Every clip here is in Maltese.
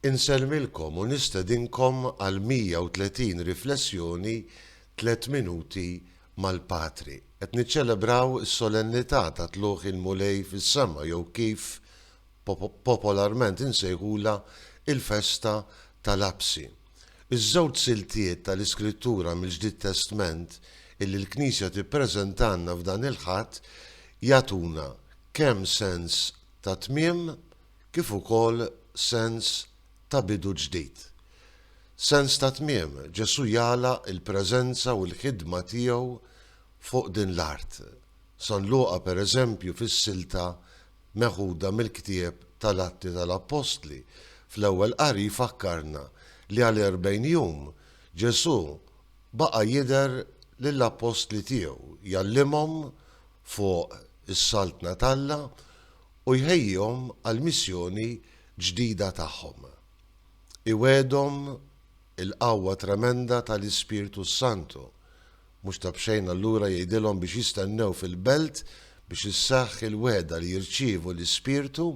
Insellmilkom u nistedinkom għal 130 riflessjoni Tliet Minuti mal-Patri. Qed niċċelebraw is-solennità ta' Tlugħ il-Mulej fis-sema jew kif popolarment insejħulha il-festa tal-Għabsi. Iż-żewġ siltiet tal-Iskrittura mill-Ġdid Testment illi l-Knisja tippreżentalna f'dan il-Ħadd jagħtuna kemm sens ta' tmiem kif ukoll sens ta' bidu ġdid. Sens ta' tmiem, Ġesù jagħlaq il-preżenza u l-ħidma tiegħu fuq din l-art. San Luqa, per eżempju, fis-silta meħuda mill-ktieb tal-Atti tal-Appostli, fl-ewwel qari jfakkarna li għal erbgħin jum Ġesù baqa' jidher lill-appostli tiegħu, jgħallimhom fuq is-Saltna t'Alla u jħejjihom għall-missjoni ġdida tagħhom. Iwegħedhom il-qawwa tremenda ta' l-Ispirtu s-Santu. Mhux ta' b'xejn allura jgħidilhom biex jistennew fil-belt biex isseħħ il-wegħda li jirċievu l-Ispirtu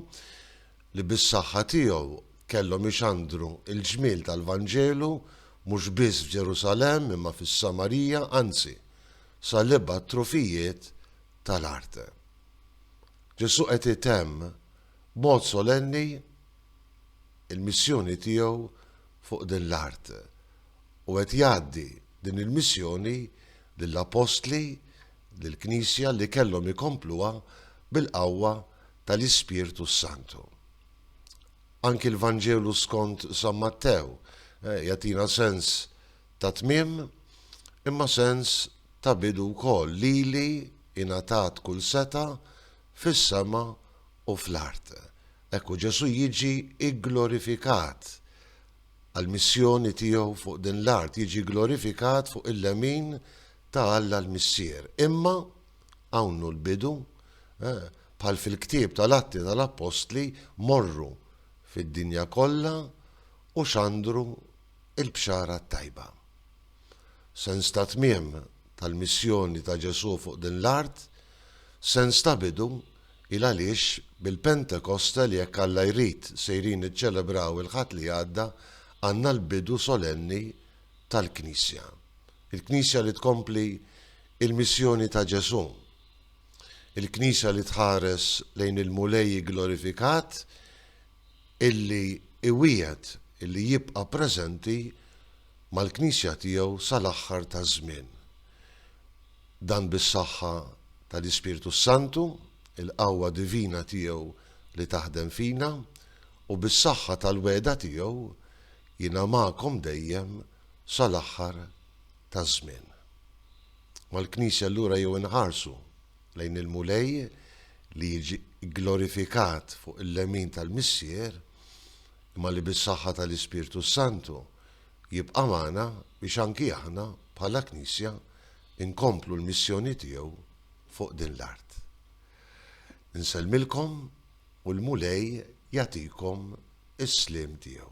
li bis-saħħa tiegħu kellhom ixandru l-ġmiel tal-Vanġelu mhux biss f'Ġerusalemm imma fis-Samarija anzi sa l-ibgħad trufijiet tal-art. Ġesù qed itemm b'mod solenni l-missjoni tiegħu fuq din l-art u qed jgħaddi din il-missjoni lill-appostli, lill-Knisja li kellhom ikompluha bil-qawwa tal-Ispirtu s-Santu. Anki l-Vanġelu skont San Mattew jagħtina sens ta' tmiem imma sens ta' bidu wkoll, lili ingħatat kull setgħa fis-sema u fl-art. Hekk u Ġesù jiġi gglorifikat għall-missjoni tiegħu fuq din l-art, jiġi gglorifikat fuq il-lemin ta' Alla l-Missier. Imma hawn hu l-bidu, bħal fil-ktieb tal-Atti tal-Appostli, morru fid-dinja kollha u xandru il-Bxara t-Tajba. Sens ta' tmiem tal-missjoni ta' Ġesù fuq din l-art, sens ta' bidu, il għaliex bil-Pentekosta li jekk Alla jrid sejrin niċċelebraw il-Ħadd li għadda għandna l-bidu solenni tal-Knisja. Il-Knisja li tkompli il-missjoni ta' Ġesù. Il-Knisja li tħares lejn il-Mulej igglorifikat, illi iwiegħed illi jibqa' preżenti mal-Knisja tiegħu sal-aħħar taż-żmien. Dan bis-saħħa tal-Ispirtu s-Santu, il-qawwa divina tiegħu li taħdem fina, u bis-saħħa tal-wegħda tiegħu, Jiena magħkom dejjem sal-aħħar taż-żmien. Mal-Knisja allura jew inħarsu, lejn il-Mulej li jiġi gglorifikat fuq il-lemin tal-Missier, imma li bis-saħħa tal-Ispirtu s-Santu jibqa' magħna biex anki aħna bħala Knisja nkomplu l-missjoni tiegħu fuq din l-art. Insellmilkom u l-Mulej jagħtikom is-sliem tiegħu.